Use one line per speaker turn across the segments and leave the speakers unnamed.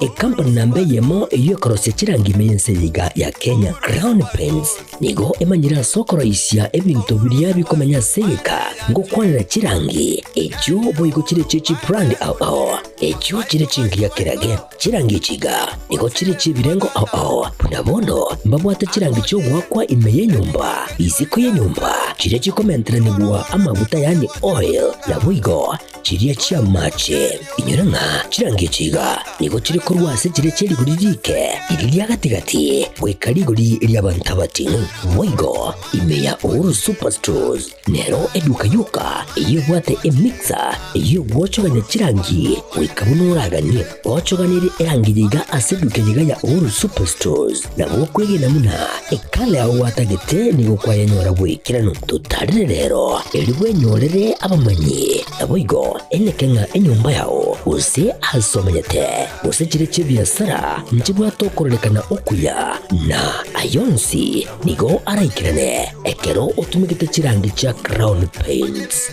Ecompany namba eyemo eyio ekorosia chirangi ime y'ense eye iga ya Kenya, Crown Paints, nigo emanyire ase okoroisia ebinto biria bikomenya ase egeka ngokwanera chirangi. Echio boigo chire echie chibrand ao ao, echio chire chingiya kerage. Chirangi echi iga nigo chire chi'ebirengo ao ao, buna bono mbabwate chirangi chi'ogoakwa ime y'enyomba, isiko y'enyomba, chiria chikomenteranigwa amaguta yaani oil, naboigo Chiria chi'amache, inyora ng'a chirangecho iga, nigo chire korwa ase chire chia rigori riike iri ria gati-gati goika rigori ri'abanto abatino. Boigo, ime ya Uhuru Superstores nero eduka yoka eyio ebwate emixer ey'ogwochoganya chirangi goika buna oraganie. Gochoganirie erangi yaiga ase eduke yaiga ya Ouro Superstores na gokwegena buna ekala yao gwatagete nigo kwayenyora bw'ekerano totarire rero, erio bwenyorere abamanyi, naboigo eneke ng'a enyomba yao, gose aase omanyete, gose chiria chi'ebiasara nchibwate okororekana okuya, na ayio onsi nigo araikerane ekero otumegete chirangi chia Crown Paints.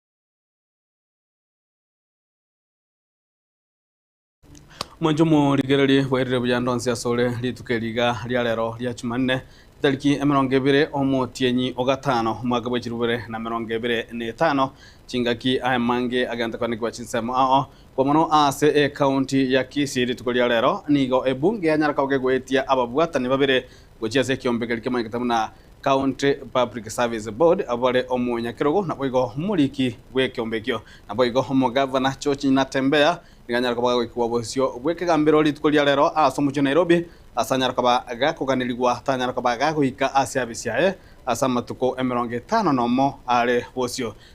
Omonto omorigererie bwairire buya ndonsi asore rituko eri iga ria rero ria Chumanne, etariki emerongo ebere omotienyi o gatano, omwaka bwe chirubere na emerongo ebere na etano, chingaki aye mange agente koanekigwa chinsemo ao. Kwa mono aase ecounty ya Kisii rituko ria rero nigo ebunge yanyara kogegoetia ababwatani babere gochia ase ekiombe keria kimanyekete buna County Public Service Board, abore omonyakerogo naboigo omoriki bw'ekiombe ekio, naboigo omogavana George Natembeya nigo anyare koba gagoikigwa bosio bw'ekegambero rituko ria rero ase omochie o Nairobi ase anyare koba gakoganirigwa tanyare koba gagoika ase abisi aye ase amatuko emerongo etano nomo are bosio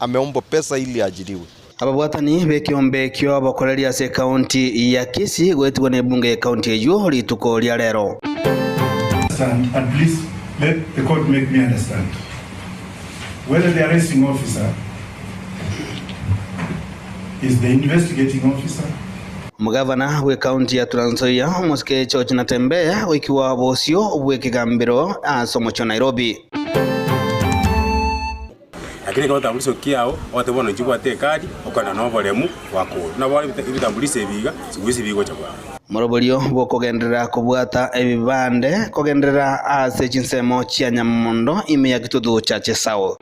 ame ombo pesa ili ajirigwe. Ababwatani
b'ekeombe ekio bokoreria ase ekaunti ya Kisii goetigwa n'ebunge y'ekaunti eyio rituko ria rero. Stand
and please let the court make me understand whether the arresting officer is the investigating officer. Omogavana
bw'ekaunti ya Trans Nzoia, Omosike George Natembeya goikigwa bosio bw'ekegambero ase omochie o Nairobi.
Lakini ekero otamburise okia yao, ogoteba bono inche bwate ekadi, okogenda na oboremu bwa koru. Nabo are ebita- ebitamburise ebi iga, sigoisa ebi gocha bwango. Moroborio
bw'okogenderera kobwata ebibande kogenderera ase chinsemo chia Nyamondo ime ya Kitutu Church South.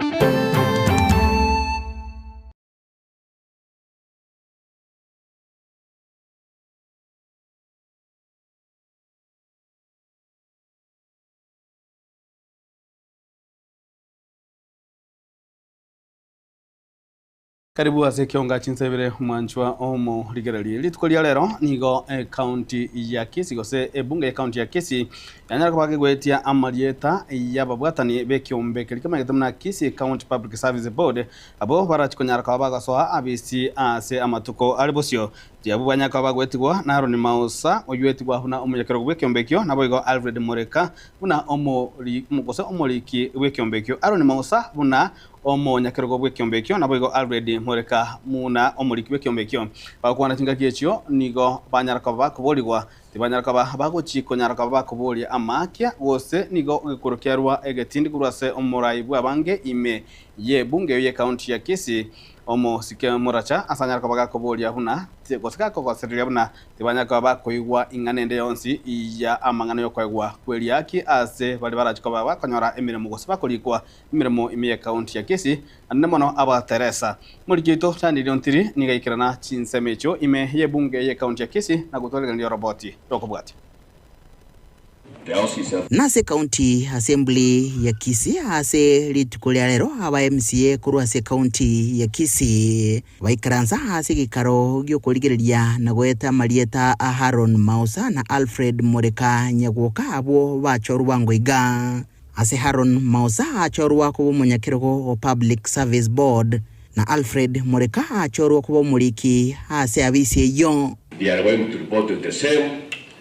Karibu ase ekionga chinsa ibere mwanchwa omo rigererie. Rituko ria rero nigo ekaunti ya Kisii gose ebunge y'ekaunti ya Kisii yanyara koba kegoetia amarieta y'ababwatani b'ekiombe keria kemanyete buna Kisii County Public Service Board abwo barachi konyara koba bagosoa abisi ase amatuko are bosio Tiabwo banya koba gwetigwa na Aroni Maosa, oyoetigwa buna omonyakerogo bw'ekiombe ekio, naboigo Alfred Moreka buna omori, gose omoriki bw'ekiombe ekio. Aroni Maosa buna omonyakerogo bw'ekiombe ekio, naboigo Alfred Moreka buna omoriki bw'ekiombe ekio. Bagokwana chingaki echio nigo banyara koba bakoborigwa. Tibanyara koba bagochi konyara koba bakoboria amaakia, gose nigo egekuro kiarua egetindi korwa ase omorai bw'abange ime y'ebunge eyo y'ekaunti ya Kisii. Omosike moracha asanyare koba gakoboria buna ti, gose gakogosereria buna tibanyare koba bakoigwa ing'ana ende yonsi ya amang'ana y'okoegwa kw'eriaki ase baria barache koba bakonyora emeremo gose bakoriikwa emeremo ime ye County ya Kisii, naende mono aba Teresa. Moriki oito Daniel Ontiri nigo aikerana chinsemo echio ime y'ebunge ye County ya Kisii na gotwarigereria oroboti rw'okobwatia.
Nase County Assembly ya Kisii ase rituko ria rero aba MCA korwa ase County ya Kisii baikaransa ase gekaro giokorigereria na goeta amarieta a Aaron Maosa na Alfred Mureka Nyagwoka abwo bachorwa bwango iga. Ase Aaron Maosa achorwa koba omonyakerogo o Public Service Board na Alfred Mureka achorwa koba omoriki ase abisi eyio.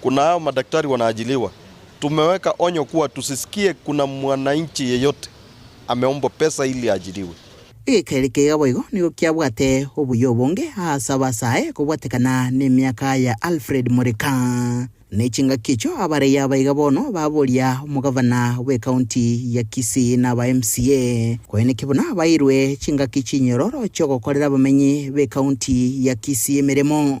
Kuna hao madaktari wanaajiliwa, tumeweka onyo kuwa tusisikie kuna mwananchi yeyote ameombwa pesa ili aajiliwe. Egekeri keiga
boigo nigo kiabwate obuya obonge ase abasae kobwatekana nemiaka ya Alfred Murika. Ne chingaki echio abaraiya abaiga bono baboria omogavana bw'ecounty ya Kisii na aba MCA konya naki buna bairwe chingaki chinyororo chiogokorera abamenyi b'ecounty ya Kisii emeremo.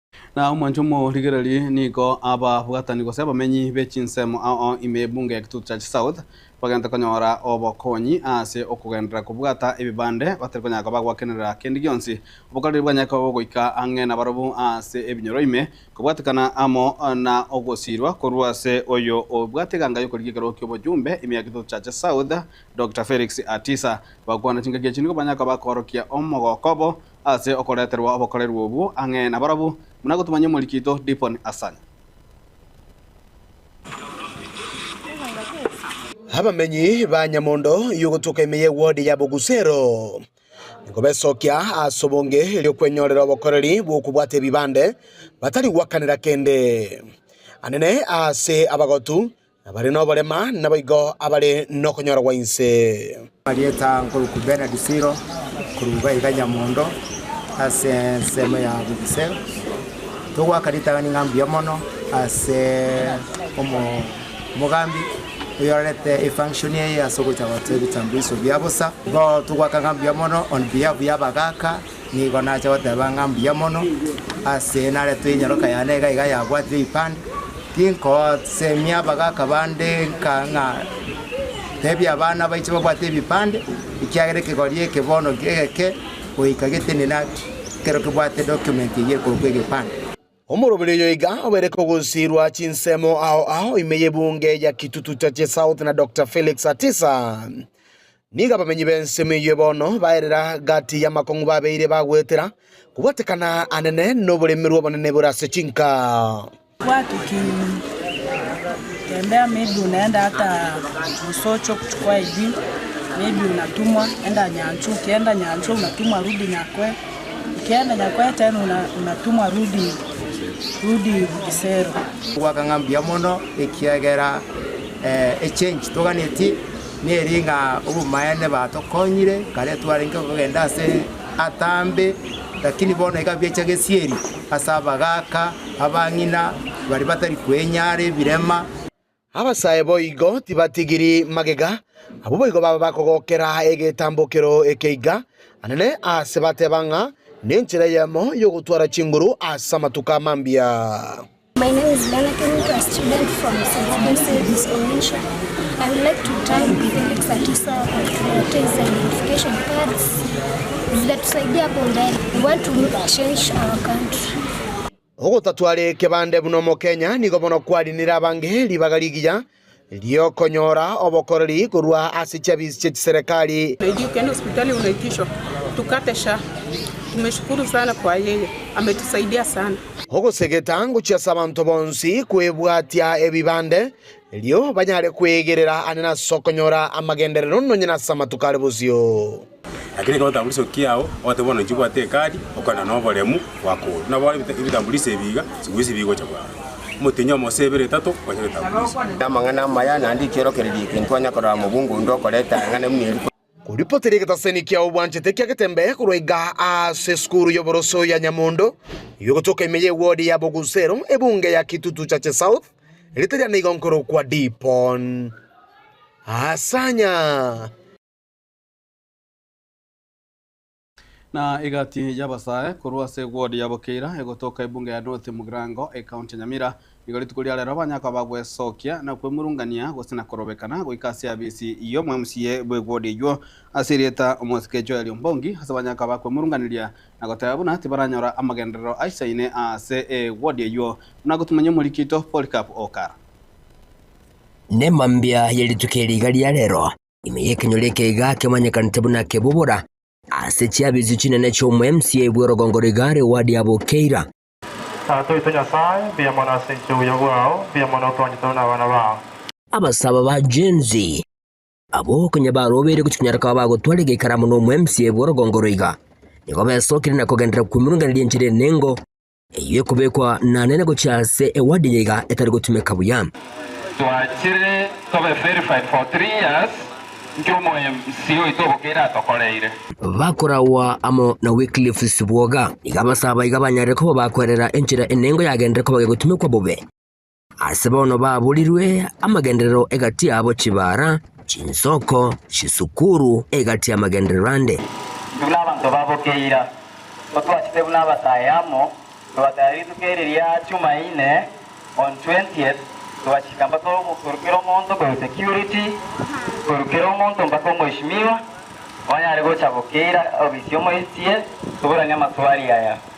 Na omwanche omorigereri nigo ababwatani gose abamenyi be chinsemo ao ime Ebunge ya Kitutu Church South bagente konyora obokonyi ase okogenderera kobwata ebibande batari konyara koba gwakenerera kende gionsi obokareri bwanyare koba bogoika ang'e nabarobwo ase ebinyoro ime kobwatekana amo na ogosiirwa korwa ase oyo obwate eganga yokorigia ekerogo ki'obochumbe ime ya Kitutu Church South Doctor Felix Atisa bagokwana chingaki echi nigo banyare koba koorokia omogoko obo ase okoreterwa obokorerwa obwo ang'e nabarabwo, buna gotumanyia omoriki oito Dipon Asan. Abamenyi
ba Nyamondo y'ogotuka ime ye ward ya Bogusero nigo besokia ase obonge eri'okwenyorera obokoreri bw'okobwata ebibande batari gwakanera kende. Anene ase abagotu Abare noborema naboigo abare nokonyorwa inse. Amarieta nkoruku
Bernard Siro korwa iga iga Nyamondo ase ensemo ya Bugise. Togoaka ritang'ani ng'a mbuya mono ase omogambi oyorarete efunction eye ase ogocha goteba ebitambulisho bia bosa. Igo togoaka ng'a mbuya mono on behalf ya abagaaka. Nigo nache goteba ng'a mbuya mono, ase naretwe enyaroka yane iga iga yabwatire ebipande, tinkosemia abagaka bande nka ng'a tebia abana baiche babwate ebipande, ekiagera ekegori eke bono egeke goika gete nina ekero kebwate document eyio ekorokwa egepande. Omoroberi oyo iga obeire kogusirwa chinsemo ao ao ime y'ebunge ya Kitutu Chache South na Dokta Felix Atisa. Nigo abamenyi b'ensemo eyio bono baerera gati y'amakong'u babeire bagwetera kobwatekana anene noboremerwa obonene bore ase chinka.
Ekiagera nyakwete nuna natumwa rudi rudi Bisero. Goaka ng'a
mbuya mono, ekiagera echengi toganetie neri ng'a obomaene batokonyire. Kare twarenge kogenda ase atambe, lakini bono iga biacha gesieri ase abagaaka, abang'ina, baria batari kwenyara, ebirema. Abasae
boigo tibatigiri magega, abwo boigo baba bakogokera egetambokero ekeiga anene aase bateba ng'a nenchera eyemo y'ogotwara chinguru ase amatuko amambia.
Ogotatware
kebande buna omokenya nigo bono kwarinire abange ribaga rigiya ri'okonyora obokoreri korwa ase chiabiisi chie chiserekari.
Ogosegeta
ngochia ase abanto bonsi kwebwatia ebibande erio banyare kwegerera aane nas'okonyora amagenderero nonye nas'amatuko are bosio. Lakini ekero otaburise
okia yao, ogateba buna nchibwate ekadi, okogenda noboremu, gwakorwa. Buna bono ebitamburise ebi iga chibwesi bigocha bwango. Omotienyi omo gose ibere etato, okonya ebitamburise. Amang'ana amaya,
naende ekiorokererio eke, ntwanya korora mobunga onde okoreta eng'ana buna eri korwa. Koripoteria egetaseni
kiao bwanchete kia getembe korwa igaa aase esukuru y'oboroso ya Nyamondo, y'ogotoka ime y'ewodi ya Bogusero, ebunge ya Kitutu Chache South, erita riane igo nkorokwa Dipon Asanya.
Na egati y'abasae korwa ase eward ya Bokeira egotoka ebunge ya North Mugirango, ecounty ya Nyamira, nigo rituko ria rero banyakoa bagwesokia na kwemurungania gose na korobekana goika ase afisi y'omo MCA bw'eward eywo ase erieta Omosike Joel Ombongi ase banyakoa bakwemurunganiria na goteba buna tibaranyora amagenderero aisaine aase eward eywo buna gotumanya omorikito Polycarp Okara.
Nemambia ye rituko eri iga ria rero. Ime y'ekenyoro ekeiga kemanyekanete buna Kebubura, ase chiabichu chinene chi'omoemsi bw'erogongo rigare Wadi ya Bukeira. Tata oito Nyasae, mbuya mono ase enchera y'obuya bwao, mbuya mono otoonye tore nabana bao. Abasaaba ba Gen-Z abwo konya barobeire gochia konyara koba bagotwara egeikaramu n'omoemsi bw'erogongo roiga, nigo besokire na kogenderera kw'emirungane ri'enchera enengo, Eyio ekobekwa nane na gochia ase ewadi eye iga etari gotumeka buya. Twachire
tobe verified for three years nki omoMC oito obokeire atokoreire. Bakoragwa
amo na Wycliffe Sibuoga, iga abasaba iga banyarire koba bakwerera enchera enengo yagenderire koba gegotumekwa bobe. Ase bono baburirwe amagenderero egati yabo chibara, chinsoko, chisukuru, egati y'amagenderero ande. Intwe buna abanto
baboke ira, totwachete buna abasae amo, tobatera rituko eri ria Chumaine on 20th, togachika mpaka korukera omonto korwa security, korukera omonto mpaka omoishimiwa, onye are gocha boke ira obisi omoisie, toboranie amaswali aya.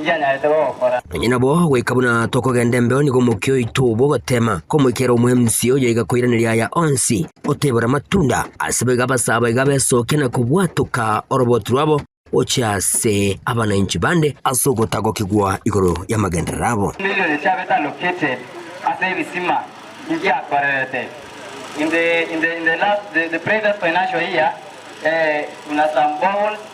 ngianyarete gogokora. Onye nabo goika buna
tokogenda embeo nigo omokia oito obo ogoteema komoikera omwemusi oyo iga koiraneria aya onsi otebora amatunda. Ase boigo abasaba iga besokia na kobwatoka oroboti rwabo gochia ase abanainchi bande ase ogotagokigwa igoro y'amagenderero abo. Emilioni chiabetanokete
ase ebisima ngiakorerete in the in the in the last the the previous financial year eh buna some boreholes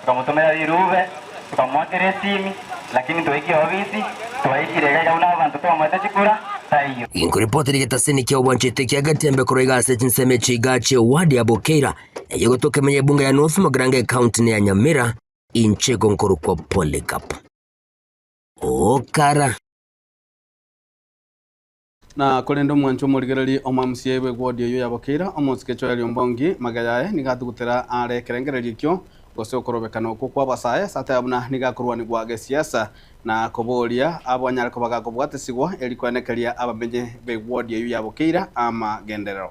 Tokamotumera rirube, tokamoakera esimi, lakini ntoekie obisi, twaikire iga iga buna abanto twamoete chikura, taiyo. Inkoripotera egetasini
kia obwanchete kia Gatembe korwa iga ase chinsemo echi iga chie eward ya Bukeira, eye gotoka emenya ebunge ya North Mogrange ecounty ne ya Nyamira, inche igo nkorokwa Polycarp Okara.
Na korende omwanchwa omorigereria omwamusie aigwe gw'odia oyio yabokeira omosike choya riombongi, magega yaye nigo atugutera aare ekerengererio ekio, gose okorobekana okwo kw'abasae ase ataya buna nigo akorwanigwa gesiasa, na koboria abo anyare koba gakobwatesigwa, erio koenekeria abamenyi begw'odia oyio yabokeira amagenderero.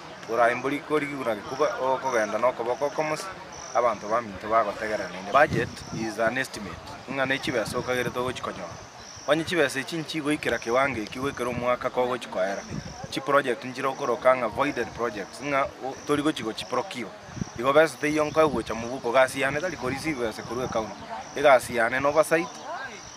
Oraimbori korigiguna gekuba ogokogenda nokoboko okomosi, abanto baminto bagotegerera naende. Budget is an estimate ng'a ne chibesa okagerete ogochikonyora. Onye chibesa echi nchigoikera kiwango ekio goikera omwaka kogochikoera, chiproject nchire gokoroka ng'a voided projects ng'a torigochigo chiprokigwe. Igo besa teiyo nkoegocha mobuko, gasi yane tari koreceive besa korwa ecounty, egasi yane noversight.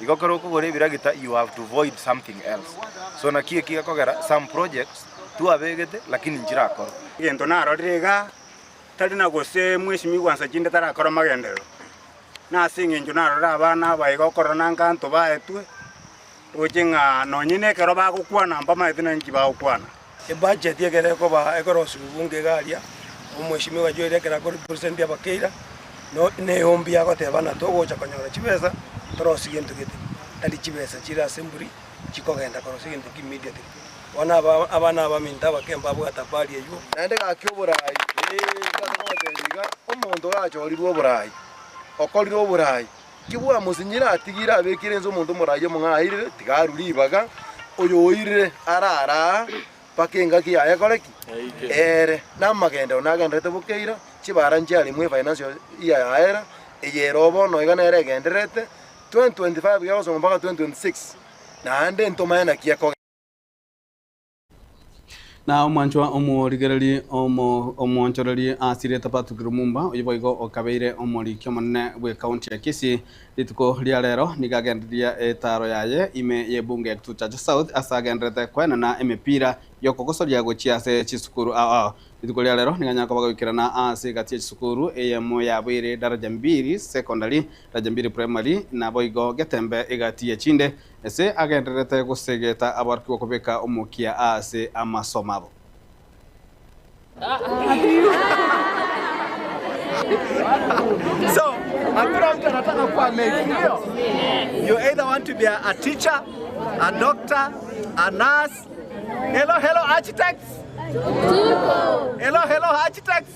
Igo ekero okogora ebiragita you have to void something else so naki eki gekogera some projects twabegete lakini nchirakorwa. Egento narorire
iga tari na gose Mweshimiwa Nsachinde tarakora amagenderero, nase engencho narorire abana aba iga okorora na nkanto baetwe, roche ng'a nonye nekero bagokwana mbamaete nari inki bagokwana. Ebacheti
ekero ekoba ekorosiwa bunga iga aria, omweshimiwa ogachoeria ekero akorepresentia abakeira, no ne eombi agoteba ng'a togocha konyora chibesa, torosie gento gete, tari chibesa chire ase emburi chikogenda korosia gento ki immediately. Bono aba abana abaminto abake mbabwate habari eywo. Naende gaki oboraai,
ee, ase goteba iga, omonto gachorirwe oboraai, okorirwe oboraai. Kibwamusinyire atigire abekire inse omonto omoraia omong'airire, tiga arue ribaga oyo oirire arare aa mpaka engaki yaye ekore ki? Eere. Namagenderero nagendererete bo keira, chibara nchiaremwe efaina nsio ya yaera, eye ere o bono iga nere egendererete, 2025 gegosomwa mpaka 2026, naende ntomaye naki ekogenda.
Na omwanchwa omorigereria omo- omwonchoreri asirete Patrick Lumumba, oyio boigo okabeire omoriki omonene bw'ekaunti ya Kisii. Rituko ria rero nigo agendereria etaaro yaye ime y'ebunge ya Kituchacha South ase agendererete koenena emepira y'okogosoria gochia ase chisukuru ao ao. Rituko ria rero nigo anyare koba goikerana ase egati ya chisukuru eyemo yabo ere Daraja Mbili Secondary, Daraja Mbili Primary, naboigo getembe egati ye chinde Ase agendererete gosegeta aborokigwa kobeka omokia aase amasomo
abo.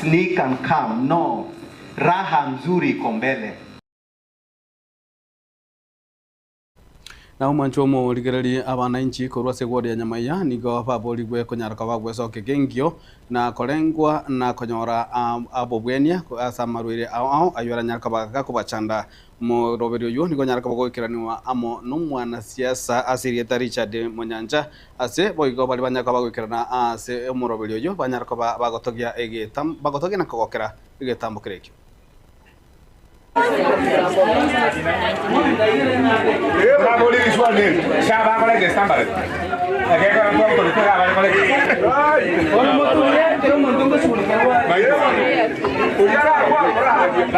Sneak and come no raha nzuri iko mbele.
Na omwancho omorigererie abanainchi korwa ase egworia nyama eya, nigo baboorigwe konyara koba gwesooka ekengio, na korengwa, na konyora obobwenia ase amarwaire ao ao ayio aranyare kobaagaga kobachanda, Omoroberio oyio nigo onyare koba ogoikeranigwa amo nomwanasiasa ase erieta Richard Monyancha. Ase boigo baria banyare koba bagoikerana aase omoroberio oyio banyare koba bagotogia egetambo bagotogia na kogokera egetambo kere ekio.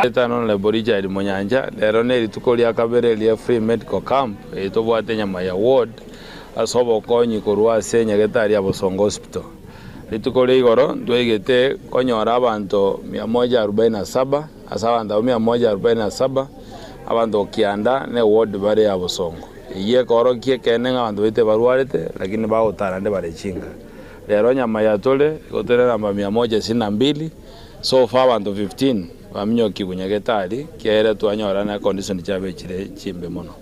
Etano na Lebo Richard Munyancha, Rero nerituko ria kabere ria Free Medical Camp eye tobwate nyama ya ward ase obokonyi korwa ase Nyagetari ya Bosongo Hospital. Rituko ria igoro ntwaigete konyora abanto mia moja arubaini na saba. Ase abanto abwo mia moja arobaini na saba, abanto o kianda na ewodi bare abosongo. Eyio ekeorokia ekeene ng'a abanto baito ebarwarete, lakini bagotara naende bare chinka. Rero onye amaya tore, igo tere na namba mia moja isini na mbili, so far abanto 15 baminyokigwe nyagetari, kiaye ere twanyorana na condition chiabo echire chimbe mono.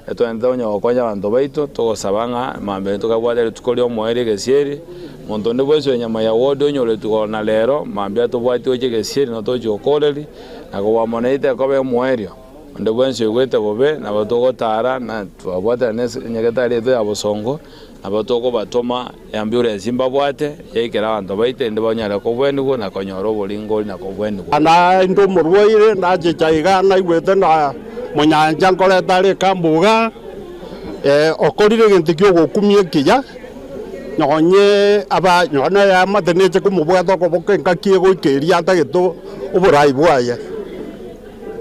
Etwenerete onye gokonya abanto baito, togosaba ng'a mambia intwe kabwate rituko ri'omoerio egesieri, monto onde bwensi oyo nyama ya World onyoretwe igoro na rero, mambia tobwati gochia egesieri na tochia okooreri, na kobwamoneite ekobe omoerio. Onde bwensi oigwete bobe, nabo togotara, na twabwatera ne nyagetari yaito ya bosongo, Nabo tokobatoma eambiore ense mbabwate, yaikera abanto baito, erinde banyare kogwenigwa na konyora oboringori na kogwenigwa. Naende omorwaire
nachicha iga naigwete na monyancha nkoreta are ekambo iga, ee, okorire egento ki'ogokumia ekiya, nonye aba nonye nayeamate neche komobwata okoboka engaki egoika eria atagete oborai bwaye.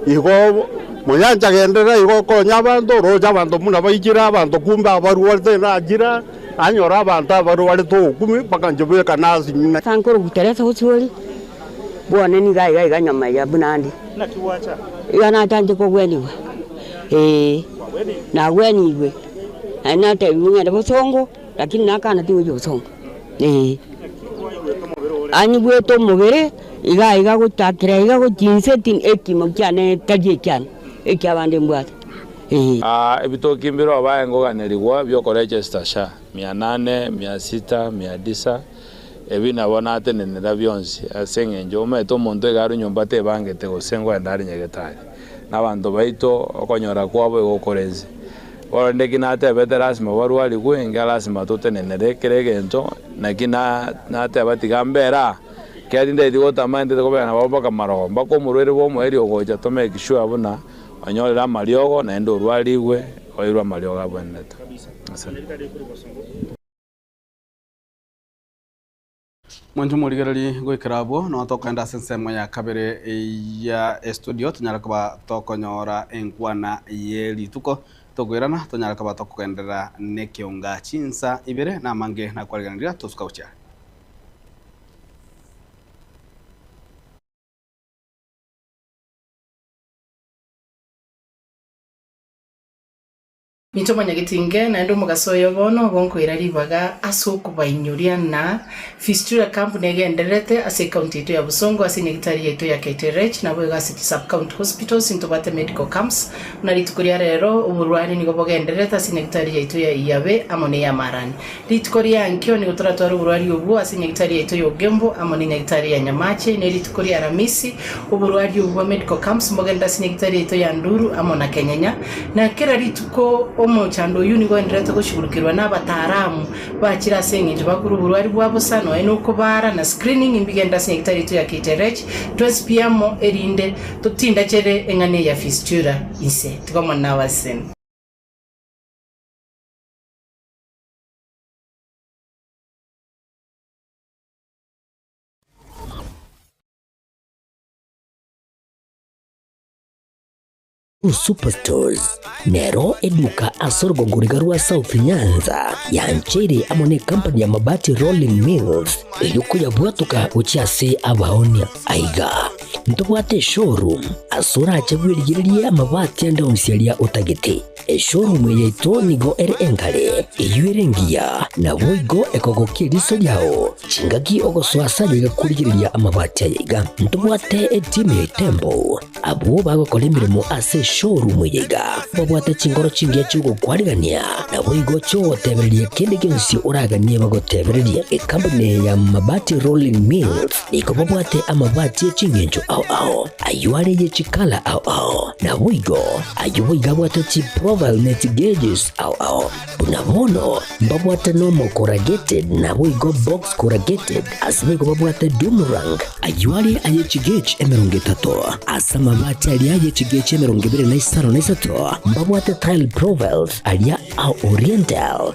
Igo moyanche agenderere igo okonya abanto, oroche abanto buna baikire abanto kumbe abarwarete na achire anyore abanto abarwarete obokumi bakanche bekana ase ng'ina. Ase nkorobuta rese obosuori
bwane niga iga iga nyama eria buna ande.
Iga nachanche
kogwenigwa, ee, nagwenigwe, naende natebigwe ng'ende bosongo. Lakini nakana tigwechia gosomba, ee. Ani bwete omobere iga iga gochakera iga gochia inse ti ekimo kiane tari ekiane, ekia abande mbwate, ee. Aa
ebitoki mbirobae ngoganerigwa biokorecha esita sha mia nane, mia sita, mia disa, ebi nabo natenenera bionsi, ase engencho omanyete omonto iga are nyomba tebangete gose ngoenda are nyagetari, na abanto baito okonyora kwabo igo korense. Korende ki natebete lasima barwarigwe, enga lasima totenenere kera egento, naki nateba tiga mbere aa, ekiagera tindaeti gotama nintete kobera nababwo mpaka marogo. Mpaka omorwaire bw'omoerio ogocha tomake sure buna onyorire amariogo naende orwarigwe oirwe amariogo abwenerete.
Mwanche morigererie goikera abwo, nonya tokogenda ase ensemo ya kabere ya estudio, tonyare koba tokonyora enkwana ye rituko, tokoirana, tonyare koba tokogenderera nekeonga chinsa ibere, na amange nakwarigereria tosuka gochia are.
Inche omonyageti inge naende omogaso oyo bono obo nkoira ribaga ase okobainyoria ng'a Fistula Camp negendererete ase ecounty yaito ya Bosongo ase enyagitari yaito ya Kaiterech naboigo ase chi sub county hospitals intobwate medical camps buna rituko ria rero oborwani nigo bogendererete ase enyagitari yaito ya Iyabe amo ne Yamarani Rituko ria enkio nigo toratware oborwaria obwo ase enyagitari yaito y'obogembo amo n'enyagitari ya Nyamache, na rituko ria Aramisi, oborwaria obwo bwa medical camps mbogenere ase enyagitari yaito ya Nduru amo na Kenyenya. Na kera rituko omochando oyio nigo oenderete goshugurukerwa n'abataaramu bachire ase engencho bakure oborwaria bwa bosa nonya n'okobaara na screening imbigenere ase enyagitari yaito ya KTRH twensi pi amo erinde totindachere eng'ana eye ya fistula inse. Tiga Omwana nawe ase.
Superstores nero eduka ase orogogoriga rwa South Nyanza yancheire amo ne company ya Mabati Rolling Mills erio koyabwatuka gochia ase abaonia aiga ntobwate showroom ase orache bwerigererie amabati ande onsiaria otagete Eshoorumu yaito nigo ere enkare, eyio ere engiya, naboigo ekogokia eriso riao, chingaki ogosoa ase ayaiga korigereria amabati ayaiga. Ntobwate etimu ya etembo. Abwo bagokora emeremo ase eshoorumu eyaiga babwate chinkoro chingiya chi'ogokwanigania, naboigo chi'ogotebereria kende gionsi oraganie bagotebererie. Ekambuni ya Mabati Rolling Mills. Nigo babwate amabati e chingencho ao ao, ayio are ye chikala ao ao, naboigo ayio boigo abwate chiprofile ne chigauges ao ao. Buna bono mbabwate normal corrugated naboigo box corrugated, ase boigo babwate Dumurang, ayio are aye chigauge emerongo etato. Ase amabati aria ye chigauge emerongo ebere na isano na isato mbabwate tile profiles aria a oriental,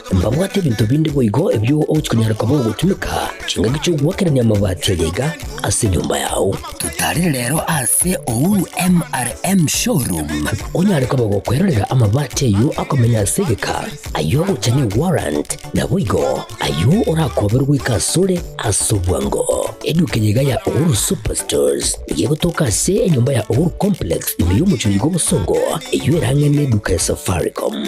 Mbabwate ebinto binde boigo ebio ogochia konyara koba ogotumeka chingaki chi'ogoakerania amabati aye iga ase enyomba yao. Totarire rero ase Uhuru MRM Showroom onyare koba gokwerorera amabati ayio akomenya ase egeka, ayio ogocha ne warrant, naboigo ayio orakoberwe goika ase ore ase obwango. Eduka eye iga ya Uhuru Superstores nigo egotoka ase enyomba ya Uhuru Complex ime y'omochie oyiga obosongo, eyio erang'e ne eduka ya Safaricom.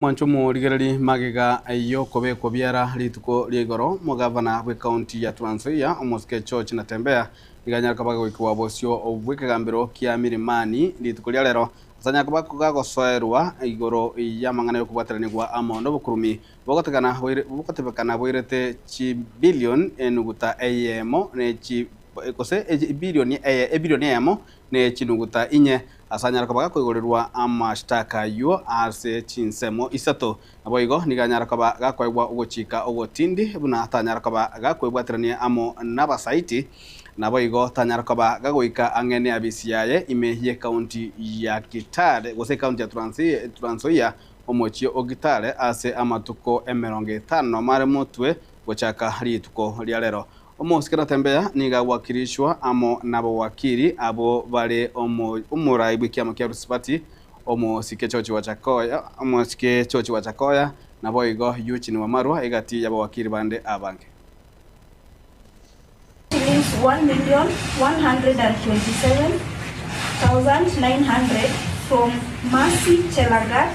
Mwanche omorigereri magega ayio okobekwa biara rituko ria igoro omogavana bw'ecounty ya Trans Nzoia omosike George Natembeya nigo anyare koba agoikigwa bosio bw'ekegambero kia Milimani rituko ria rero ase anyare koba agosoerwa igoro y'amang'ana y'okobwataranigwa amo nobokurumi bogotegana boire bogotebekana boirete chibilion enuguta eyemo ne chi gose ebirioni eye ebirioni eyemo ne chinuguta inye, asanyare koba gakoigorerwa amashitaka ayio ase chinsemo isato. Naboigo nigo anyare koba gakoegwa ogochika ogotindi, buna tanyare koba gakwebwaterania amo nabasaiti, naboigo tanyare koba gagoika ang'e neafisi yaye ime y'ekaunti ya Kitale gose ekaunti ya Trans Nzoia, omochie o Kitale, ase amatuko emerongo etano mare motwe gochaka rituko riarero. Omosike Tatembeya nigo agwakirishwa amo nabogwakiri abwo bare omo omorai bw'ekiamo kia Rusibati, Omosike Chochi Wachakoya, Omosike Chochi Wachakoya, naboigo Eugene Wamarwa egati y'abogwakiri bande abange. Shillings 1,127,900 from Mercy
Chelagat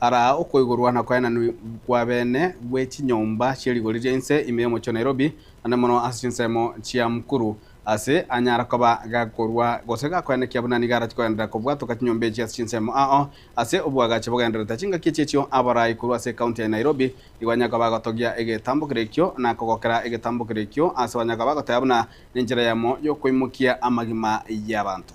Araa okoigorwa na koenanigwa kw'abeene gwe chinyomba chie rigori ria inse ime y'omochie o Nairobi, naende mono ase chinsemo chia mukuru, ase anyara koba gakorua gose gakoenekia buna nigo arati kogenderera kobwatoka chinyomba echi ase chinsemo ao. Ase obwagache bogendererete chingaki echi echio, abarai korwa ase ekaunti ya Nairobi nigo banyare koba bagotogia egetambokero ekio na kogokera egetambokero ekio ase banyare koba bagoteba buna nenchera yamo y'okoimokia amagima y'abanto.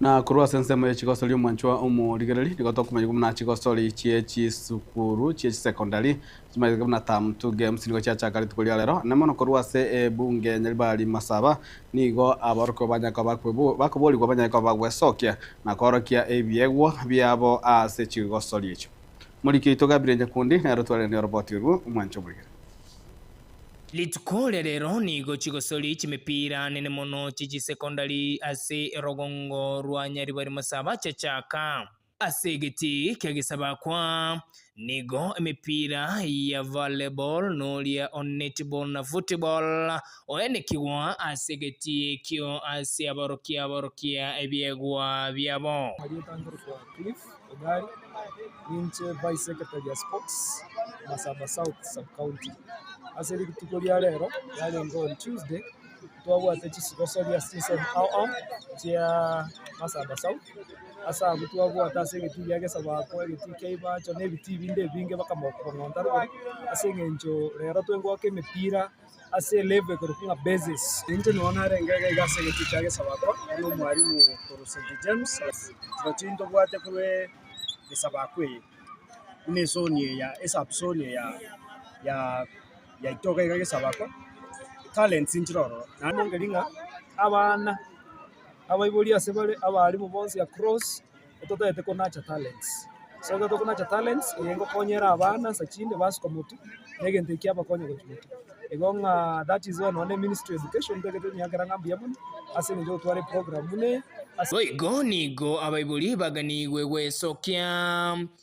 Na korwa ase ensemo ye chigosori omwanchwa omorigereri, nigo tokomoigwa buna chigosori chie chisukuru chie chisecondary chimanyeteke buna term two games nigo chiachakaretwe koria rero. Onye mono korwa ase ebunge ya Nyaribari Masaba nigo aborokigwa banyare koba bakoborigwa banyare koba bagwesokia na koorokia ebiegwa biabo ase chigosori echio. Omoriki oito Gabriel Nyakundi nere otwaranirie oroboti orwo, omwanchwa omorigereri. Rituko
ria rero nigo chigosori chimepira nene mono chi chisecondary ase erogongo rwa Nyaribari Masaba chiachaka. Ase egeti kia Gesabakwa nigo emepira ya volleyball noria o netball na football oenekigwa ase egeti ekio ase aborokia aborokia ebiegwa biabo.
Ninche Vice Secretary ya Sports Masaba South Sub-county. Ase rituko ria rero yarenge on Tuesday, twabwate chisigosoria ase chinsemo ao ao chia Masaba South. Ase abwo twabwate ase egetii gia Gesabaako, egetii kia Ibacho na ebitii binde ebinge mpaka Mokubong'o Ntaruguru ase eng'encho rero twengoaka emepira. ase elevo ekorokwa ng'a basis. Inche nao narenge iga iga ase egetwe kia Gesabakwa, buna omwalimu korwa St. James, rotugi ntobwate korwa Gesabakwa eye, buna ezoni eye ya esub zoni eye ya ya yaito iga iga Gesabakwa, talents nchire ororo naende engeri ng'a abana abaiboria ase bare abalimu bonsi across. ototagete konacha talents. Ase ekero tokonacha talents, eye engokonya ere abana nsa chinde basuka motu, na egento eki kiabakonya gochia motu. Igo ng'a that is why nonya ministry of education ntagete onyakera ng'a mbuya mono, ase eng'encho gotwara eprograam buna eye ase. Boigo nigo
abaibori baganigwe gwesokia.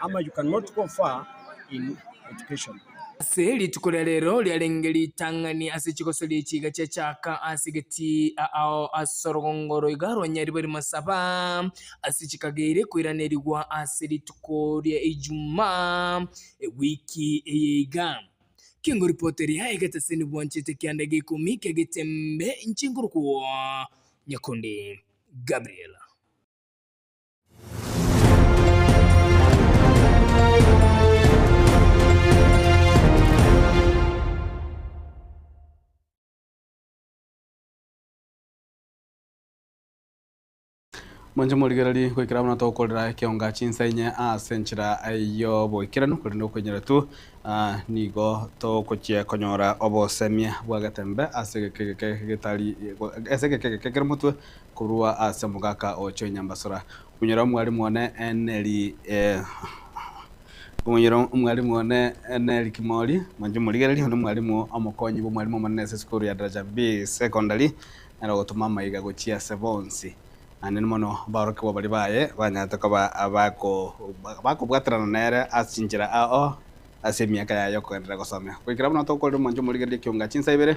ama you cannot go far in education. Ase rituko
ria rero riarenge ritang'ani ase chigosoria echi iga chiachaka ase egetia ao ase orogongo roiga rwa Nyaribari Masaba ase chikageire koiranerigwa ase rituko ria Ijumaa ewiki eye iga. Kingoripoteria egeteseni bwanchete kianda gia ikomi ki'egetembe inche nkorokwo Nyakundi Gabriel.
Mwanche morigererie goikera buna tokorera ekionga chinsa inye ase enchera y'oboikeranu, korende okoinyora tu ah, nigo togochia konyora obosemia bw'agatembe ase egeke egeke getari ase egeke egeke kere motwe korwa ase omogaka o chinyambasora, Omonyene Omwarimu one neri Omonyene Omwarimu one neri Kimori, Mwanchwa Omorigereria one Mwarimu Omokonyi bw'Omwarimu Omonene ase esukuru ya Daraja B Secondary, nere ogotoma amaiga gochia ase bonsi. Naende mono aborokigwa baria baye banyarete koba abakobwaterana nere ase chinchera ao ase emiaka yaye y'okogenderera gosomia. Goikera bono tokorire Mwanchwa Omorigereria ekiunga chi'insa ibere,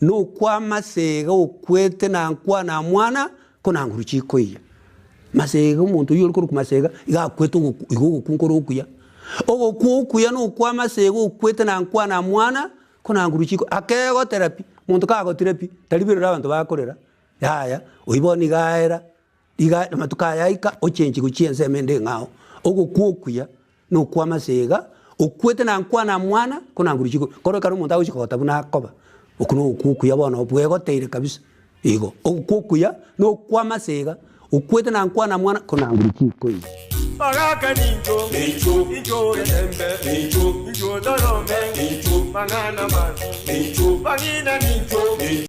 Nokwamasega okwete nankwa na mwana ko nanguru chikoiya. Masega omonto oyio orikorokwa masega iga akwete ogoku iga ogoku nkore okuya. Ogoku okuya nokwamasega okwete nankwa na mwana ko nanguru chiko akegotera pi. Monto kagotire pi tariberera abanto bakorera yaya oyi bono iga aera. Iga namatuko aya aika ochenche gochia ensemo ende ng'ao, ogokwa okuya, na okw'amase iga, okwete na nkwana mwana, ko nanguru chigo. Koro ekero omonto agochika kogota buna akoba, okwo nogokwa okuya bono bwegoteire kabisa. Igo, ogokwa okuya, na okw'amase iga, okwete na nkwana mwana, ko nanguru chikoira. Magaka nincho,
nincho, nincho etembe, nincho, nincho torombe, nincho, mang'ana manso, nincho, mang'ina nincho, nincho.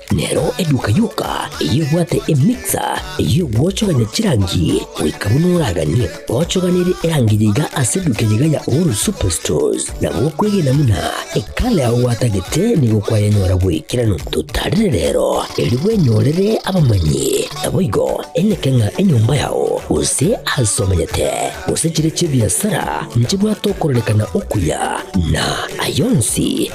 Nero eduka yoka eyebwate emixer ey'ogwochogania chirangi goika buna oraganie gochoganere erangi yaiga ase eduka eyaiga ya Uhuru Superstores, na gokwegena buna ekala yao gwatagete nigo kwayanyora bw'ekerano. Totarire rero, erio bwenyorere abamanyi, naboigo eneke ng'a enyomba yao, gose aase omanyete, gose chire chi'ebiasara nchibwate okorerekana okuya, na ay'onsi